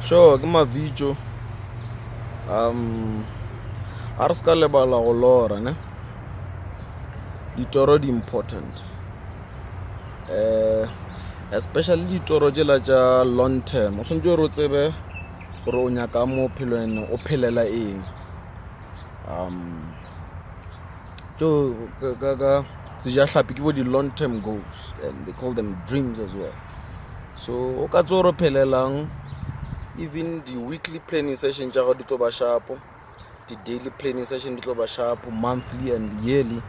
sure ke mavitšo um a re se ka lebala go lora ne ditoro di important um especially ditoro tšela tša long term o swantse gore o tsebe gore o nyaka mo phelo ene o phelela eng um tso ka sejahlapi ke bo di-long term goals and they call them dreams as well So o ka tse o re phelelang even di-weekly planning session tša gago di tlo ba shapo di-daily planning session di tlo ba shapo monthly and yearly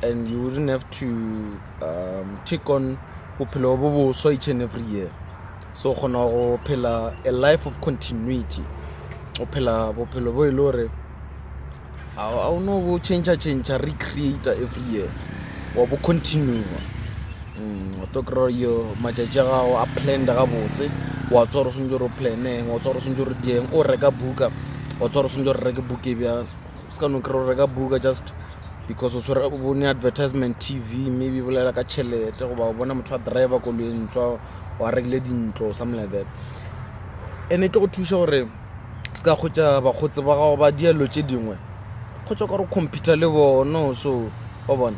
and you wouldn't have to um, take on bophelo bo boswa each and every year so kgona go phela a life of continuity o phela bophelo bo e le gore a o no bo change change recreate every year wa bo continue mm, wa to kry yo matšatši a gago a planned gabotse wa tswa gore o swantse gore o planeng wa tswa gore o swantse gore dieng o reka buka wa tswa gore o swantse gore reke buka e bja se ka no kry o reka buka just because o tshwere bone advertisement tv maybe bolela ka tšhelete goba o bona motho a driver koloentswa wa rekile dintlo something like that and e tlo go thuša gore se ka kgotsa bakgotsi ba gago ba dielo tše dingwe kgotsa ka re computer le bono so wa bona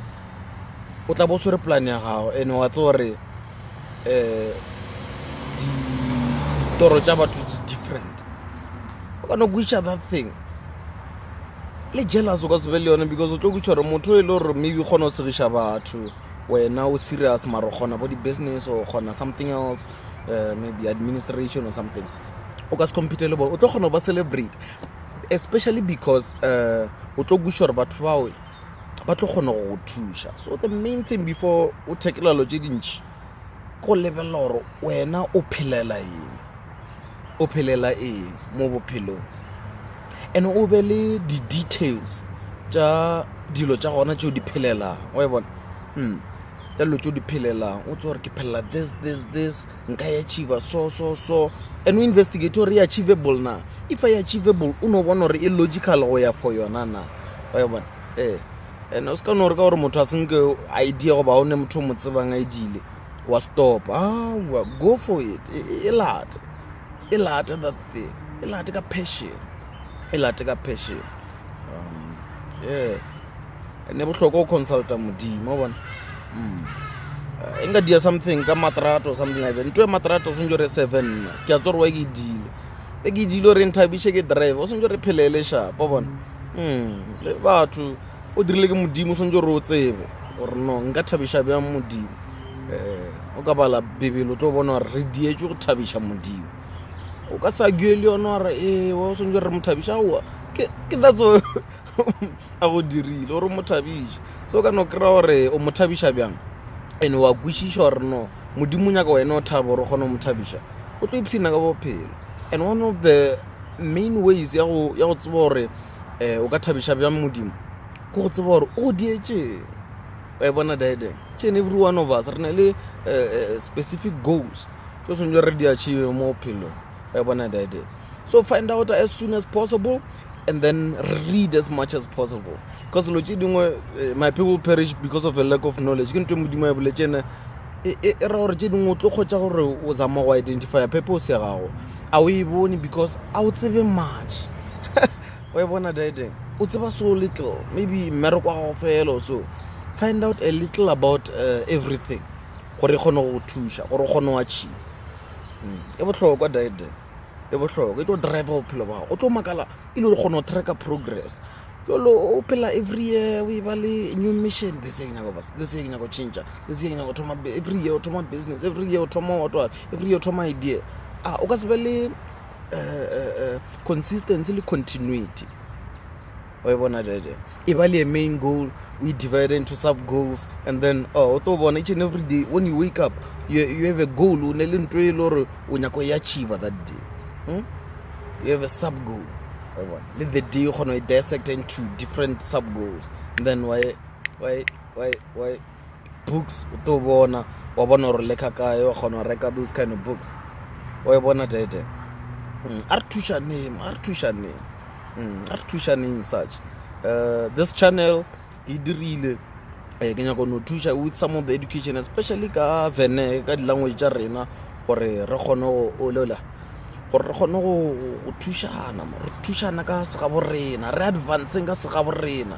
o tla bo swere plan ya gago ene wa tse gore um ditoro tša batho di different o kana go iša that thing le jealous o ka se be le yone because o tlo kutšha gore motho e le gore maybe kgona o segiša batho wena o serious mara o kgona bo di-business or kgona something else uh, maybe administration or something o ka se compete le bone o tlo kgona go ba celebrate especially because uh, o tlo kweša gore batho bawe ba tlo kgona go go thuša so the main thing before o thekelelo tše dintšhi ko lebelela gore wena o phelela eng o phelela eng mo bophelong and o be le di-details tša dilo tša gona tšeo di phelelang wa e bona mm tša dilo tšeo di phelelang o tse gore ke phelela this this this nka e achieva so so so and o investigate gore e achievable na if i achievable o no bona gore e logical go ya for yona na wa e bona ee eh. and o se ka no gore ka gore motho a senke idea goba o ne motho o mo tsebang a e dile wa stop awa go for it e, e, e late e late that thing e late ka passion e late ka passion um, yeah ne bohloko o consulta modimo bona mm. eh, e nka dia something ka matrato something like that nto e matrato o swantse re seven nna ke a tsore wa ke dile e ke dile re nthabiše ke drive o swantse re phelele shapo bona mm, le batho o dirile ke modimo o swantse re o tsebe gore no nka thabiša bjang modimo um o ka bala bebele o tlo bona gore re dietswe go thabiša modimo o ka sa gue le yone gore ee o swantse re mo thabiša aowa ke that's a go dirile gore o mo thabiše so o ka no kry-a gore o mo thabiša bjang and wa kwešiša gore no modimo nyaka wena o thabo gore o kgone go mo thabiša o tlo ipshina ka bophelo and one of the main ways ya go tseba gore um o ka thabiša bjang modimo ke go tseba gore o dietseng wa e bona dide chen every one of us re na le eh, eh, specific goals tse tshwanetse re di achieve mo bophelong wa bona dade so find out as soon as possible and then read as much as possible because lo tše dingwe eh, my people perish because of a lack of knowledge ke ntho e modimo ya boletse ene e, e, e ra gore tše dingwe o tlo kgotsa gore o zama go identifya pepe o se gago a o e bone because a o tsebe much wa e bona dide o tseba so little maybe mmereko wa gago fela so find out a little about uh, everything gore e kgone go thuša gore o kgone wa tšhima hmm, e bohlokwa dide e bohlokwa e tlo drive bophelo bao o tlo makala e le gore kgone go tracka progress jalo o phela every year o e ba le new mission this year nyako bas this year nyako change this year nyako thoma every year o thoma business every year o thoma whatwa every year o thoma idea a ah, o ka se be le eh, eh, eh, consistency le continuity wa e bona jaja e ba le a main goal we divide into sub goals and then oh, o tlo bona each and every day when you wake up you, you have a goal o ne le nto e le gore o nyako e achieva that day hmm? you have a sub goal le the day kgona e dissect into different sub goals then why why why why books o tlo bona wa bona gore le kgakae wa kgona go reka those kind of books wa e bona tete mm, a re thušaneng a re thušaneng mm, a re thušaneng such uh, this channel ke dirile eh, ke nyako no thuša with some of the education especially ka vene ka di-language tša rena gore re kgone go olela gore re kgone go thušana re thušana ka segabo rena re advanceng ka segabo rena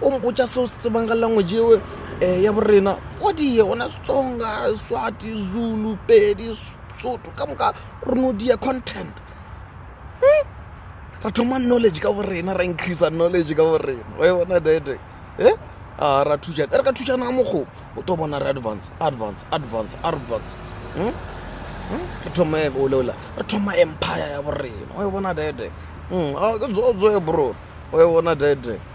o mpotša seo se tsebang ka language eo um ya borena o die ona setsonga swati zulu pedi soto ka moka rono dia content hmm? ra thoma knowledge ka borena ra increasa knowledge ka borena wa e bona dede e eh? a ra thušana e re ka thušana ka mokgobo o to bona re advance advance advance advance hmm? Hmm? re thoma e boleola re thoma empire ya borena wa e bona dede ke zozoe bror wa e bona dede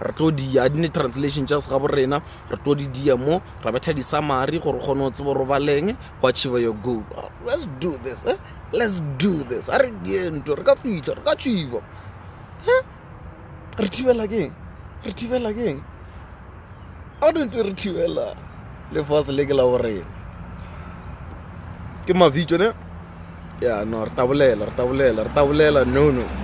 re tlo di a dine translation tša sega borena re tlo di dia mo ra betha di summary gore kgone o tsebo robaleng go achieve your goal let's do this eh? let's do this a re die ntho re ka fitlha re ka achieve eh? re thibela keng re thibela keng a re ntwe re thibela lefase le ke la borena ke mavitso ne ya no re tabolela re tabolela re tabolela no no